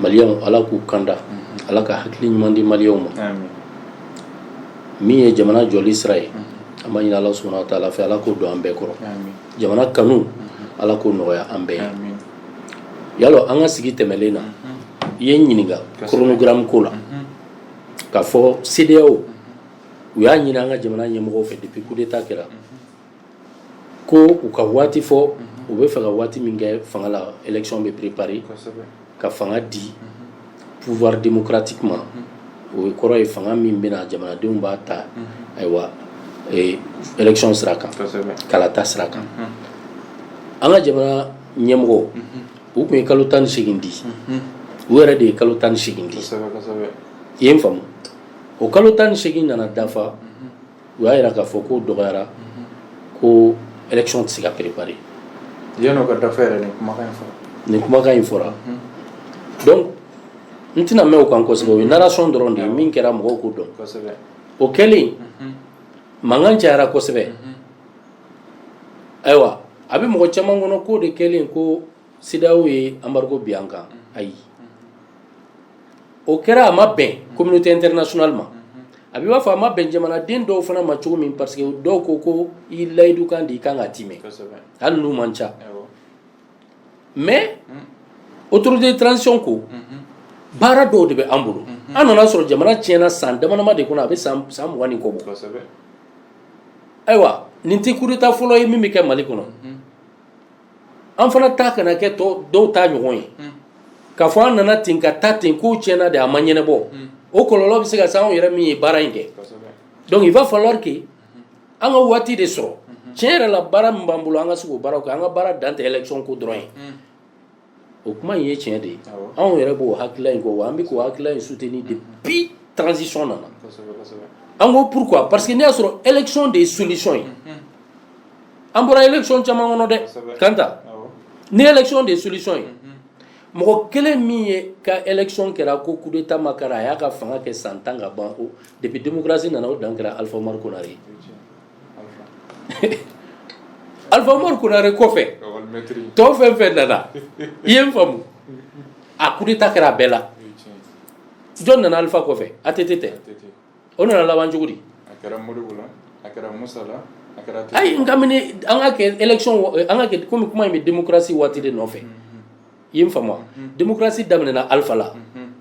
maliyɛnw ala k'u kanda ala ka hakili ɲuman di maliyɛnw ma min ye jamana jɔli sira ye an b'a ɲini ala subhanahu wa ta'ala fɛ ala k'o don an bɛɛ kɔrɔ jamana kanu ala k'o nɔgɔya an bɛɛ ye i y'a lɔn an ka sigi tɛmɛlen na i ye n ɲininka chronogramme ko la k'a fɔ CEDEAO u y'a ɲini an ka jamana ɲɛmɔgɔw fɛ depuis coup d'État kɛra ko u ka waati fɔ u bɛ fɛ ka waati min kɛ fanga la élection bɛ préparer ka fanga di pouvoir démocratique ma o kɔrɔ ye fanga min bɛna jamanadenw b'a ta ayiwa élection sira kan kalata sira kan an ka jamana ɲɛmɔgɔw tun ye kalo tan ni seegin di u yɛrɛ de ye kalo tan ni seegin di i ye n faamu o kalo tan ni seegin nana dafa u y'a jira k'a fɔ k'o dɔgɔyara ko élection tɛ se ka préparer yanni o ka dafa yɛrɛ nin kumakan in fɔra nin kumakan in fɔra donc n tɛna mɛn o kan kosɛbɛ o ye narration dɔrɔn de ye min kɛra mɔgɔw k'o dɔn kosɛbɛ o kɛlen mankan cayara kosɛbɛ ayiwa a bɛ mɔgɔ caman kɔnɔ k'o de kɛlen ko CEDEAO ye embargo bin an kan, ayi, o kɛra a ma bɛn communauté internationale ma, a bɛ i b'a fɔ a ma bɛn jamanaden dɔw fana ma cogo min parce que dɔw ko ko i layidukan de i ka kan ka timɛ, kosɛbɛ, hali n'u man ca, awɔ, mais autorité de transition ko baara dɔw de bɛ an bolo, an nan'a sɔrɔ jamana tiɲɛna san damadama de kɔnɔ a bɛ san mugan ni kɔ bɔ, kosɛbɛ, ayiwa nin tɛ coup d'Etat fɔlɔ ye min bɛ kɛ Mali kɔnɔ. an fana ta kana kɛ dɔw ta ɲɔgɔn ye k'a fɔ an nana ten ka taa ten k'o tiɲɛna de a ma ɲɛnabɔ o kɔlɔlɔ bɛ se ka se anw yɛrɛ min ye baara in kɛ donc il va falloir que an ka waati de sɔrɔ tiɲɛ yɛrɛ la baara min b'an bolo an ka se k'o baaraw kɛ an ka baara dan tɛ élection ko dɔrɔn ye o kuma in ye tiɲɛ de ye anw yɛrɛ b'o hakilila in kɔ wa an bɛ k'o hakilila in soutenir depuis transition nana an ko pourquoi parce que n'i y'a sɔrɔ élection de ye solution ye an bɔra élection caman kɔnɔ dɛ Kanta ni élection de ye solution ye mɔgɔ kelen min ye ka élection kɛra ko coup d'état ma k'a ra a y'a ka fanga kɛ san tan ka ban o depuis démocratie nana o dan kɛra Alpha Oumar Konaré ye. Alpha Umaru Konare kɔfɛ tɔw fɛn fɛn nana i ye n faamu a coup d'état kɛra a bɛɛ la jɔn nana Alpha kɔfɛ ATT tɛ o nana laban cogo di ayi n ka mini an ka kɛ élection an ka kɛ kɔmi kuma in bɛ démocratie waati de nɔfɛ i ye n faamu démocratie daminɛna Alpha la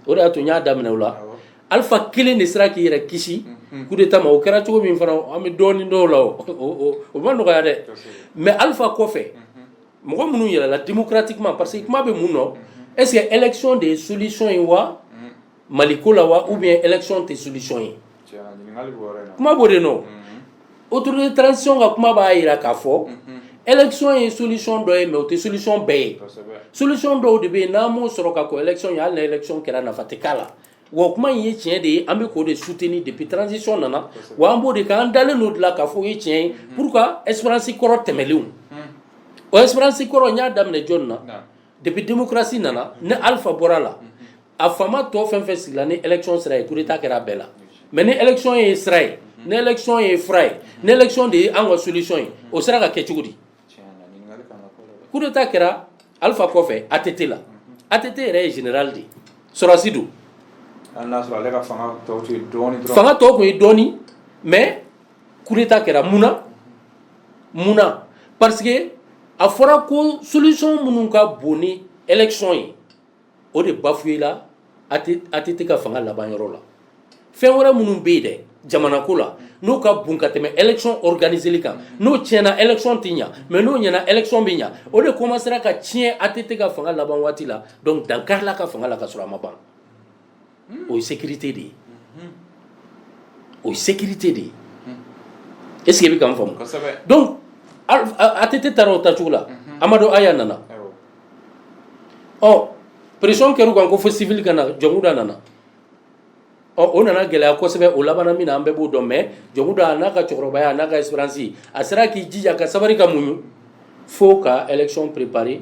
o de y'a to n y'a daminɛ o la Alpha kelen de sera k'i yɛrɛ kisi coup d'état ma o kɛra cogo min fana an bɛ dɔɔnin dɔn o la o ma nɔgɔya dɛ mais Alpha kɔfɛ mɔgɔ minnu yɛlɛla démocratiquement parce que kuma bɛ mun nɔ est ce que élection de ye solution ye wa Mali ko la wa ou bien élection tɛ solution ye kuma b'o de nɔ autorité de transition ka kuma b'a jira k'a fɔ élection ye solution dɔ ye mais o tɛ solution bɛɛ ye solution dɔw de bɛ yen n'an m'o sɔrɔ ka kɔn élection ɲɛ hali na élection kɛra nafa tɛ k'a la wa o kuma in ye tiɲɛ de ye an bɛ k'o de soutenir depuis transition nana wa an b'o de kɛ an dalen don o de la k'a fɔ o ye tiɲɛ ye pour que expérience kɔrɔ tɛmɛnlenw o expérience kɔrɔ n y'a daminɛ jɔn na depuis démocratie nana ni Alpha bɔra a la a faama tɔ fɛn fɛn sigila ni élection sira ye coup d'état kɛra a bɛɛ la mais ni élection ye sira ye ni élection ye fura ye ni élection de ye an ka solution ye o sera ka kɛ cogo di coup d'état kɛra Alpha kɔfɛ ATT la ATT yɛrɛ ye général de ye sɔrɔdasi don fanga tɔ tun ye dɔɔni mais coup d'état kɛra mun na mun na parce que a fɔra ko solution minnu ka bon ni élection ye o de bafouéla ATT ka fanga laban yɔrɔ la fɛn wɛrɛ minnu bɛ yen dɛ jamana ko la n'u ka bon ka tɛmɛ élection organiseli kan n'o tiɲɛna élection tɛ ɲa mais n'o ɲɛna élection bɛ ɲa o de commencera ka tiɲɛ ATT ka fanga laban waati la donc dan karila ka fanga la ka sɔrɔ a ma ban o ye sécurité de ye o ye sécurité de ye est ce que i bɛ ka n faamu donc ATT taara o taacogo la Amadu Aya nana ɔ pression kɛra u kan ko fo civil ka na Jɔnkunda nana ɔ o nana gɛlɛya kosɛbɛ o labanna min na an bɛɛ b'o dɔn mais Jɔnkunda a n'a ka cɛkɔrɔbaya a n'a ka expérience a sera k'i jija ka sabari ka muɲu fo ka élection préparer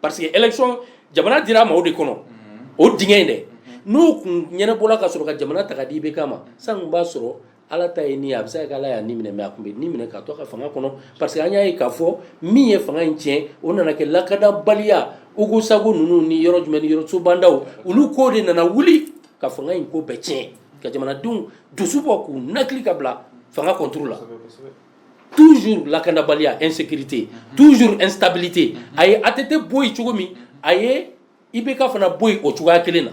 parce que élection jamana dira a ma o de kɔnɔ o dingɛ in dɛ n'o tun ɲɛnabɔla ka sɔrɔ ka jamana ta ka di IBK ma sisan tun b'a sɔrɔ ala ta ye ni ye a bɛ se ka kɛ ala y'a ni minɛ mais a tun bɛ ni minɛ ka to a ka fanga kɔnɔ parce que an y'a ye k'a fɔ min ye fanga in tiɲɛ o nana kɛ lakandabaliya Ogosagu ninnu ni yɔrɔ jumɛn ni yɔrɔ Sobandaw olu ko de nana wuli ka fanga in ko bɛɛ tiɲɛ ka jamanadenw dusu bɔ k'u nakili ka bila fanga contre la toujours lakandabaliya insécurité mhm. toujours instabilité mhm. a ye ATT bɔ yen cogo min mhm. a ye IBK fana bɔ yen o cogoya kelen na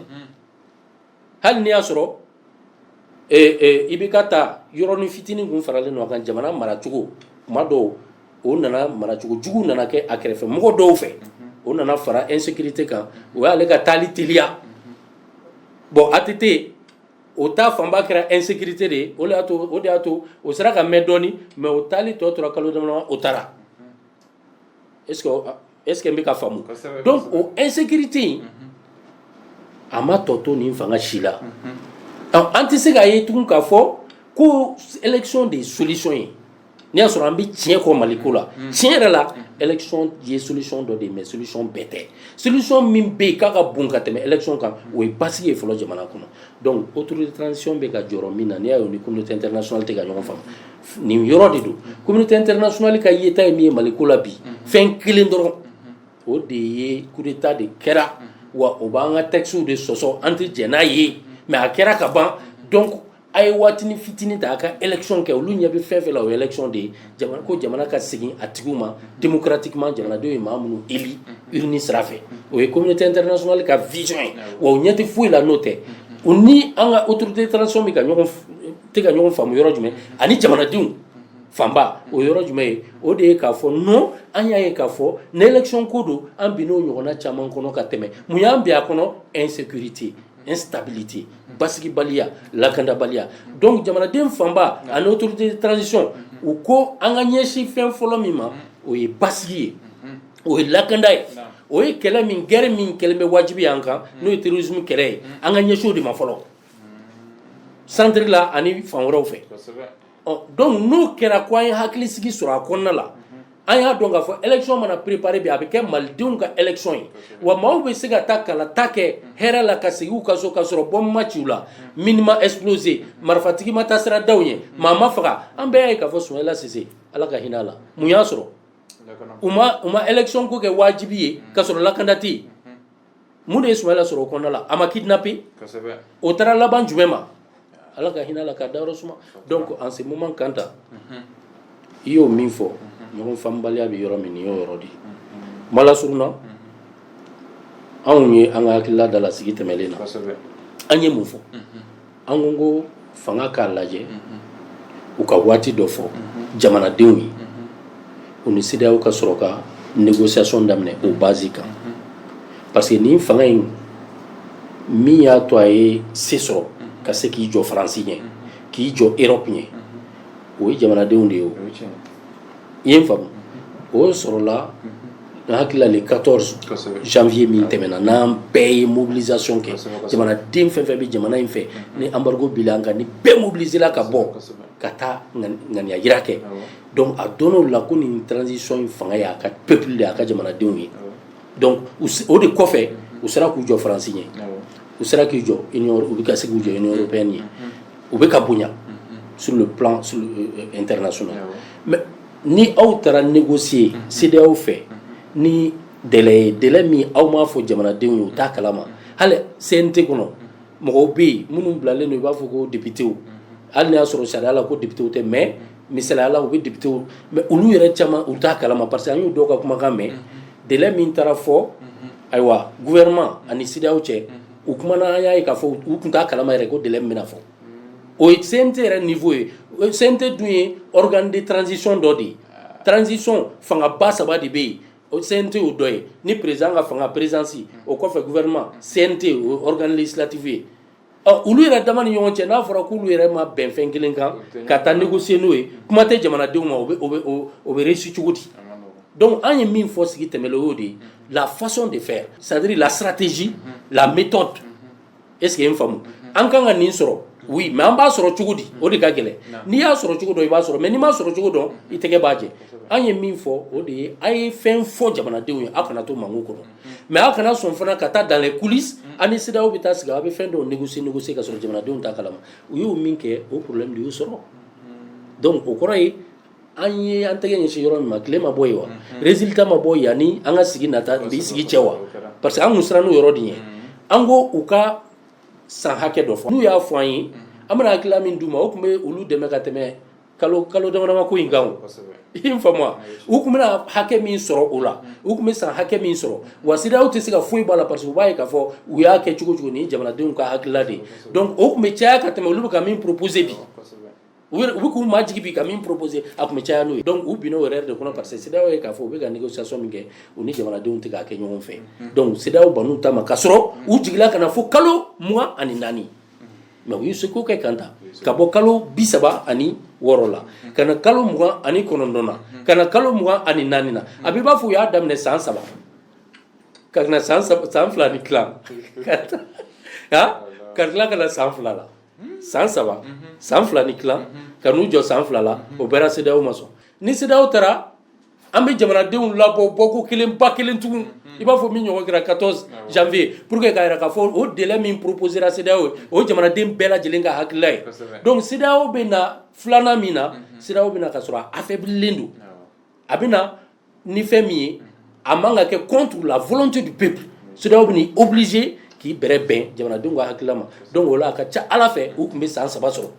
hali n'i y'a sɔrɔ eh, eh, IBK ta yɔrɔnin fitinin kun faralen don a kan jamana maracogo kuma dɔw o nana maracogo jugu nana kɛ a kɛrɛfɛ mɔgɔ dɔw fɛ o nana fara insécurité kan o y'ale ka taali teliya bon ATT o ta fanba kɛra insécurité de ye o de y'a to o de y'a to o sera ka mɛn dɔɔni mais o taali tɔ tora kalo damadama o taara est ce que est ce que n bɛ ka faamu donc o insécurité in a ma tɔ to nin fanga si la an tɛ se k'a ye tugun k'a fɔ ko élection de ye solution ye. n'i y'a sɔrɔ an bɛ tiɲɛ kɔ mali ko la mm. tiɲɛ yɛrɛ la mm. élection ye solution dɔ de ye mais solution bɛɛ tɛ solution min bɛ yen k'a ka bon ka tɛmɛ élection kan mm. o ye basigi ye fɔlɔ jamana kɔnɔ donc autorité de transition bɛ ka jɔ yɔrɔ min na n'i y'a ye o ni communauté internationale tɛ ka ɲɔgɔn faamu nin yɔrɔ de don communauté internationale ka yeta ye min ye mali ko la bi fɛn kelen dɔrɔn o de ye coup d'état de kɛra wa o b'an ka textes de sɔsɔ an tɛ jɛn n'a ye mais a kɛra ka ban donc a ye waatini fitinin ta a ka élection kɛ olu ɲɛ bɛ fɛn fɛn la o ye élection de ye ko jamana ka segin a tigiw ma démocratiquement jamanadenw ye maa minnu élu urne sira fɛ o ye communauté internationale ka vision ye wa u ɲɛ tɛ foyi la n'o tɛ u ni an ka autorité de transition bɛ ka ɲɔgɔn tɛ ka ɲɔgɔn faamu yɔrɔ jumɛn ani jamanadenw fanba o yɔrɔ jumɛn ye o de ye k'a fɔ non an y'a ye k'a fɔ ni élection ko don an binn'o ɲɔgɔnna caman kɔnɔ ka tɛmɛ mun y'an bin a kɔnɔ insécurité instabilité basigibaliya lakandabaliya donc jamanaden fanba ani autorité de transition u ko an ka ɲɛsin fɛn fɔlɔ min ma o ye basigi ye o ye lakanda ye o ye kɛlɛ min guerre min kɛlen bɛ wajibi ye an kan n'o ye terrorisme kɛlɛ ye an ka ɲɛsin o de ma fɔlɔ centre la ani fan wɛrɛw fɛ ɔ donc n'o kɛra ko an ye hakili sigi sɔrɔ a kɔnɔna la an y'a dɔn k'a fɔ élection mana préparer bi a bɛ kɛ malidenw ka élection ye wa maaw bɛ se ka taa kalata kɛ hɛrɛ la ka segin u ka so ka sɔrɔ bombe ma ci u la mine ma exploser marifatigi ma taa sira da u ɲɛ maa ma faga an bɛɛ y'a ye k'a fɔ Soumaïla Cissé ala ka hinɛ a la mun y'a sɔrɔ u ma u ma élection ko kɛ wajibi ye ka sɔrɔ lakanda tɛ yen mun de ye Soumaïla sɔrɔ o kɔnɔna la a ma kidnapper o taara laban jumɛn ma Ala ka hinɛ a la k'a dayɔrɔ suma donc en ce moment Kanta i y'o min fɔ ɲɔgɔn faamubaliya bɛ yɔrɔ min nin y'o yɔrɔ de ye kuma lasurunna anw ye an ka hakilila dalasigi tɛmɛnen na an ye mun fɔ. an ko ko fanga k'a lajɛ u ka waati dɔ fɔ jamanadenw ye u ni CEDEAO ka sɔrɔ ka négociation daminɛ o base kan parce que nin fanga in min y'a to a ye se sɔrɔ ka se k'i jɔ faransi ɲɛ k'i jɔ Europe ɲɛ o ye jamanadenw de ye o i ye n faamu o sɔrɔla hakili la le 14 janvier min tɛmɛna n'an bɛɛ ye mobilisation kɛ jamanaden fɛn fɛn bɛ jamana in fɛ ni embargo bila an kan ni bɛɛ mobilisera ka bɔ ka taa ŋaniya jira kɛ donc a dɔnn'o la ko nin transition in fanga y'a ka peuple de y'a ka jamanadenw ye donc o de kɔfɛ u sera k'u jɔ faransi ɲɛ u sera k'i jɔ union u bɛ ka se k'u jɔ union européenne ɲɛ u bɛ ka bonya sur le plan sur euh, euh, international mais ni aw taara négocier CEDEAO fɛ ni délai ye délai min aw m'a fɔ jamanadenw ye u t'a kalama hali CNT kɔnɔ mɔgɔw bɛ yen minnu bilalen don i b'a fɔ ko députéw hali n'a y'a sɔrɔ sariya la ko députéw tɛ mais misali la u bɛ député mais olu yɛrɛ caman u t'a kalama parce que an y'u dɔw ka kumakan mɛn délai min taara fɔ ayiwa gouvernement ani CEDEAO cɛ u kumana an y'a ye k'a fɔ u tun t'a kalama yɛrɛ ko délai min bɛna fɔ o ye sen tɛ yɛrɛ nin fɔ ye sen tɛ dun ye kand tranzsi dɔ de ye tranzsi fanga ba saba de bɛ yen o sen tɛ o dɔ ye ni perez an ka fanga perezsi o kɔfɛ guɛma sen tɛ kanlitibi ye ɔ olu yɛrɛ da ni ɲɔgɔn cɛ n'a fɔra k'olu yɛrɛ ma bɛnfɛn kelen kan ka taa nɛgɛ sen n'o ye kuma tɛ jamanadenw ma o bɛsi cogo di dɔnku an ye min fɔ sigi tɛmɛ o de ye lafasɔn de fɛ sadiri lasirati z la bitɔn est-ce que i ye n faamu an kan ka nin sɔrɔ mais an b'a sɔrɔ cogo di o de ka gɛlɛn n'i y'a sɔrɔ cogo dɔn i b'a sɔrɔ mais n'i m'a sɔrɔ cogo dɔn i tɛgɛ b'a jɛ an ye min fɔ o de ye a ye fɛn fɔ jamanadenw ye aw kana to mankun kɔnɔ mais aw kana sɔn fana ka taa dans les coulisses ani CEDEAO bɛ taa sigi aw bɛ fɛn dɔw négocier négocier ka sɔrɔ jamanadenw t'a kalama u y'o min kɛ o problème de y'u sɔrɔ donc o kɔrɔ ye an ye an tɛgɛ ɲɛsin yɔrɔ min ma tile ma bɔ yen wa résultat ma bɔ yanni an ka sigi nata bi sigi cɛ wa parce que an kun sirann'o yɔrɔ de ɲɛ an ko u ka san hakɛ dɔ fɔ n'u y'a fɔ an ye an bɛna hakilila min d'u ma o tun bɛ olu dɛmɛ ka tɛmɛ kalo kalo damadama ko in kan o i ye n faamu wa u tun bɛna hakɛ min sɔrɔ o la u tun bɛ san hakɛ min sɔrɔ wa CEDEAO tɛ se ka foyi bɔ a la parce que u b'a ye k'a fɔ u y'a kɛ cogo cogo nin ye jamanadenw ka hakilila de ye donc o tun bɛ caya ka tɛmɛ olu bɛ ka min proposer bi U u bɛ k'u majigin bi ka min proposer a tun bɛ caya n'o ye donc u binn'o yɛrɛ de kɔnɔ parce que CEDEAO ye k'a fɔ u bɛ ka négociation min kɛ u ni jamanadenw tɛ k'a kɛ ɲɔgɔn fɛ donc CEDEAO bann'u ta ma ka sɔrɔ u jiginna ka na fo kalo mugan ani naani mais u ye seko kɛ k'a ta ka bɔ kalo bi saba ani wɔɔrɔ la ka na kalo mugan ani kɔnɔntɔn na ka na kalo mugan ani naani na a b'i b'a fɔ u y'a daminɛ san saba ka na san fila ni tila ka tila ka na san fila la san saba san fila ni tila ka n'u jɔ san fila la o bɛɛ la CEDEAO ma sɔn ni CEDEAO taara an bɛ jamanadenw labɔ bɔko kelen ba kelen tugun i b'a fɔ min ɲɔgɔn kɛra quatorze janvier pour que k'a yira k'a fɔ o délai min proposera CEDEAO ye o jamanaden bɛɛ lajɛlen ka hakilila ye donc CEDEAO bɛ na filanan min na CEDEAO bɛ na k'a sɔrɔ a affaiblilen don a bɛ ni fɛn min ye a man ka kɛ contre la volonté du peuple CEDEAO bɛ n'i obligé k'i bɛrɛ bɛn jamanadenw ka hakilila ma donc o la a ka ca ala fɛ u tun bɛ san saba sɔrɔ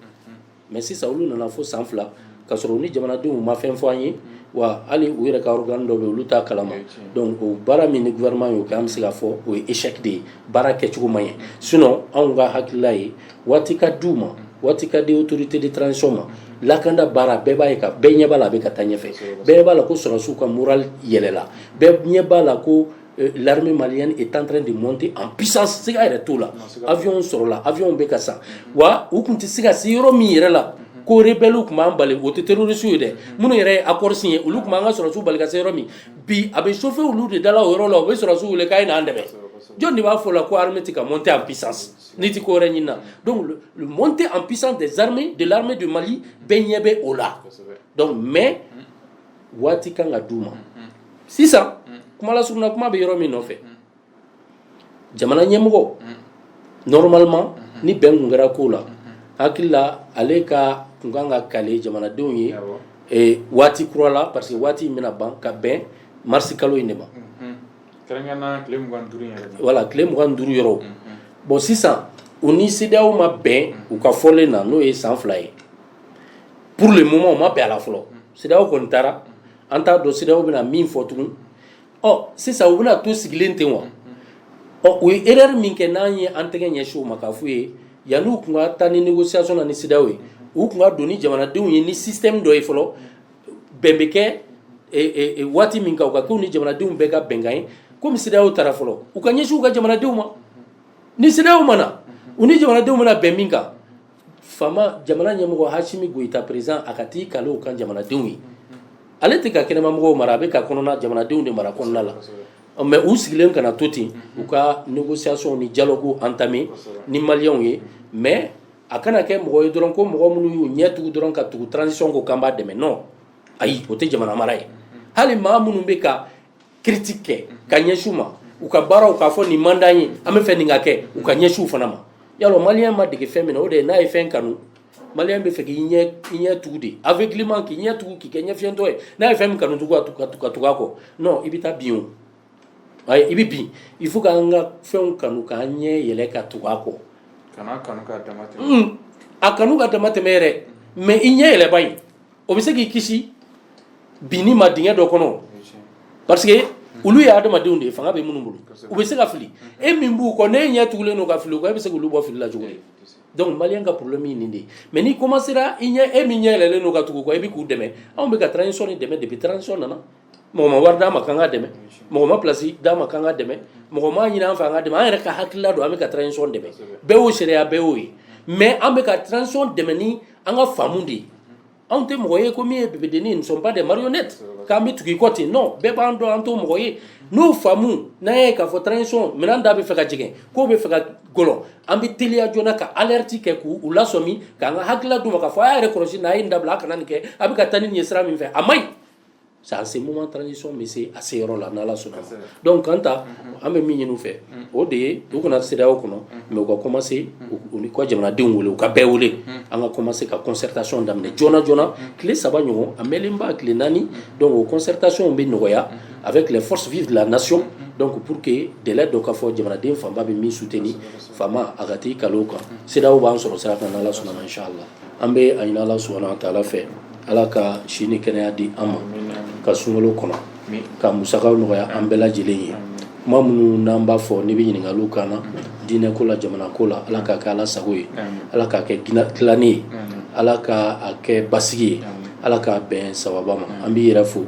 mais sisan olu nana fo san fila ka sɔrɔ ni jamanadenw ma fɛn fɔ an ye wa hali u yɛrɛ ka organe dɔ bɛ olu t'a kalama donc o baara min ni gouvernement ye o kɛ an bɛ se k'a fɔ o ye échec de ye baara kɛcogo ma ɲɛ sinon anw ka hakilila ye waati ka d'u ma waati ka di autorité de transition ma lakanda baara bɛɛ b'a ye ka bɛɛ ɲɛ b'a la a bɛ ka taa ɲɛfɛ bɛɛ b'a la ko sɔrɔsiw ka moral yɛlɛla bɛɛ ɲɛ b'a la ko l'armée malienne est en train de monter en puissance siga yɛrɛ t'o la avionw sɔrɔla avionw bɛ ka san wa u tun tɛ se ka se yɔrɔ min yɛrɛ la ko rebellew tun b'an bali o tɛ terroristew ye dɛ minnu yɛrɛ ye accord signé olu tun b'an ka sɔrɔsiw bali ka se yɔrɔ min bi a bɛ chauffer olu de dala o yɔrɔ la u bɛ sɔrɔsiw wele k'a ye n'an dɛmɛ jɔn de b'a fɔ la ko armée tɛ ka monter en puissance N'i tɛ ko wɛrɛ ɲini donc montée en puissance des armées de l'armée du Mali bɛɛ ɲɛ bɛ o la donc mais waati kan ka d' u ma sisan kuma lasurunna kuma bɛ yɔrɔ min nɔfɛ jamana ɲɛmɔgɔ normalement ni bɛn kun kɛra ko la hakilila ale ka kun kan ka kale jamanadenw ye waati kura la parce que waati in bɛna ban ka bɛn marisikalo in de ma wala tile mugan ni duuru yɔrɔ bon sisan u ni CEDEAO ma bɛn u ka fɔlen na n'o ye san fila ye pour le moment u ma bɛn a la fɔlɔ CEDEAO kɔni taara an t'a dɔn CEDEAO bɛna min fɔ tugun ɔ sisan u bɛna to sigilen ten wa ɔ u ye erreur min kɛ n'an ye an tɛgɛ ɲɛsin u ma k'a f'u ye yanni u tun ka taa ni négociation na ni CEDEAO ye u tun ka don ni jamanadenw ye ni système dɔ ye fɔlɔ bɛn bɛ kɛ waati min kan u k'a kɛ u ni jamanadenw bɛɛ ka bɛnkan ye komi CEDEAO taara fɔlɔ u ka ɲɛsin u ka jamanadenw ma ni CEDEAO ma na u ni jamanadenw mana bɛn min kan faama jamana ɲɛmɔgɔ Asimi Goyita président a ka t'i kale u kan jamanadenw ye ale tɛ ka kɛnɛmamɔgɔw mara a bɛ ka kɔnɔna jamanadenw de mara kɔnɔna la mais u sigilen kana to ten u ka négociation ni dialogue entamé ni maliyɛnw ye mais a kana kɛ mɔgɔ ye dɔrɔn ko mɔgɔ minnu y'u ɲɛ tugu dɔrɔn ka tugu transition kɔ k'an b'a dɛmɛ non ayi o tɛ jamana mara ye hali maa minnu bɛ ka critique kɛ ka ɲɛsin u ma u ka baaraw k'a fɔ nin man d'an ye an bɛ fɛ nin ka kɛ u ka ɲɛsin u fana ma yalɔ maliyɛn ma dege fɛn min na o de ye n'a ye fɛn kanu maliyɛn bɛ fɛ k'i ɲɛ i ɲɛ tugu de aveuglement k'i ɲɛ tugu k'i kɛ ɲɛfiyɛntɔ ye n'a ye fɛn min kanu tugu ka tugu a kɔ non i bɛ taa bin o I bɛ bin il faut k'an ka fɛnw kanu k'an ɲɛ yɛlɛ ka tugu a kɔ a kanu ka dama tɛmɛ yɛrɛ mais i ɲɛ yɛlɛba in o bɛ se k'i kisi binni ma dingɛ dɔ kɔnɔ parce que olu ye adamadenw de ye fanga bɛ minnu bolo u bɛ se ka fili e min b'u kɔ n'e ɲɛ tugulen don ka fili u kɔ e bɛ se k'olu bɔ fili la cogo di donc malien ka problème ye nin de ye mais n'i commencera i ɲɛ e min ɲɛ yɛlɛlen don ka tugu u kɔ i bɛ k'u dɛmɛ anw bɛ ka transition nin dɛmɛ depuis transition nana mɔgɔ ma wari d'an ma k'an k'a dɛmɛ mɔgɔ ma place d'an ma k'an k'a dɛmɛ mɔgɔ m'a ɲini an fɛ an k'a dɛmɛ an yɛrɛ ka hakilila don an bɛ ka transition dɛmɛ bɛɛ y'o seere ye bɛɛ y'o ye mais an bɛ ka transition dɛmɛ ni an ka faamu de ye anw tɛ mɔgɔ ye ko min ye bibidenni ye nous sommes pas des marionnettes k'an bɛ tugu i kɔ ten non bɛɛ b'an dɔn an t'o mɔgɔ ye n'o faamu n'an y'a ye k'a fɔ transition minɛn da bɛ fɛ ka jigin k'o bɛ fɛ ka gɔlɔn an bɛ teliya joona ka alerte kɛ k'u u lasɔmi k'an ka hakilila d'u ma k'a fɔ a y'a yɛrɛ kɔlɔsi nin a ye nin dabila a kana nin kɛ a bɛ ka taa ni nin ye sira min fɛ a man ɲi C'est en ce moment transition bɛ se a se yɔrɔ la n'ala sɔnna donc kan ta an bɛ min ɲini u fɛ o de ye u kana se o kɔnɔ mais u ka commencer u ni kɔ jamanadenw wele u ka bɛɛ wele an ka commencer ka concertation daminɛ joona joona tile saba ɲɔgɔn walima tile naani donc concertation bɛ nɔgɔya avec les forces vives de la nation donc pour que deli dɔ k'a fɔ jamanaden fanba bɛ min soutenir faama a ka taa i kalo ka se o b'an sɔrɔ sira kan n'ala sɔnna inshallah an bɛ a ɲini Alahu subahana wataala fɛ Ala ka si ni kɛnɛya di an ma ka sunkalo kɔnɔ ka musakaw nɔgɔya an bɛɛ lajɛlen ye kuma minnu n'an b'a fɔ n'i bɛ ɲininkaliw k'an na diinɛ ko la jamana ko la Ala k'a kɛ Ala sago ye Ala k'a kɛ dilanni ye Ala ka a kɛ basigi ye Ala k'a bɛn sawaba ma an b'i yɛrɛ fo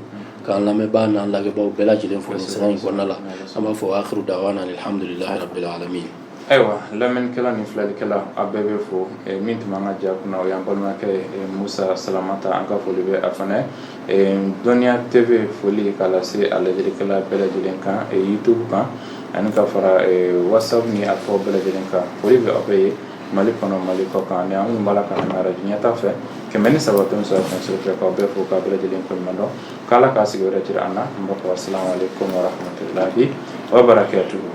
k'an lamɛnbaa n'an lajɛbaaw bɛɛ lajɛlen fo nin sira in kɔnɔna la an b'a fɔ wa akhiru dawana anil hamdulilahi rabil alamina Ayiwa lamɛnnikɛla ni filɛlikɛla an b'aw bɛɛ fo min tun b'an ka ja kunna o y'an balimakɛ musa salamata an ka foli bɛ a fana Duniya TV foli k'a lase a lajɛlikɛla bɛɛ lajɛlen kan YouTube kan ani ka fara WhatsApp ni a fɔ bɛɛ lajɛlen kan foli bɛ aw bɛɛ ye mali kɔnɔ mali kɔ kan ani an b'a la ka radio ɲɛtaa fɛ kɛmɛ ni saba fɛn sɔrɔ fɛnfɛ k'aw bɛɛ fo k'aw bɛɛ lajɛlen koɲumandɔn k'Ala ka sigi wɛrɛ jira an na mɔgɔ asalamu alayikum wa rahmatulahi wa barakatuhu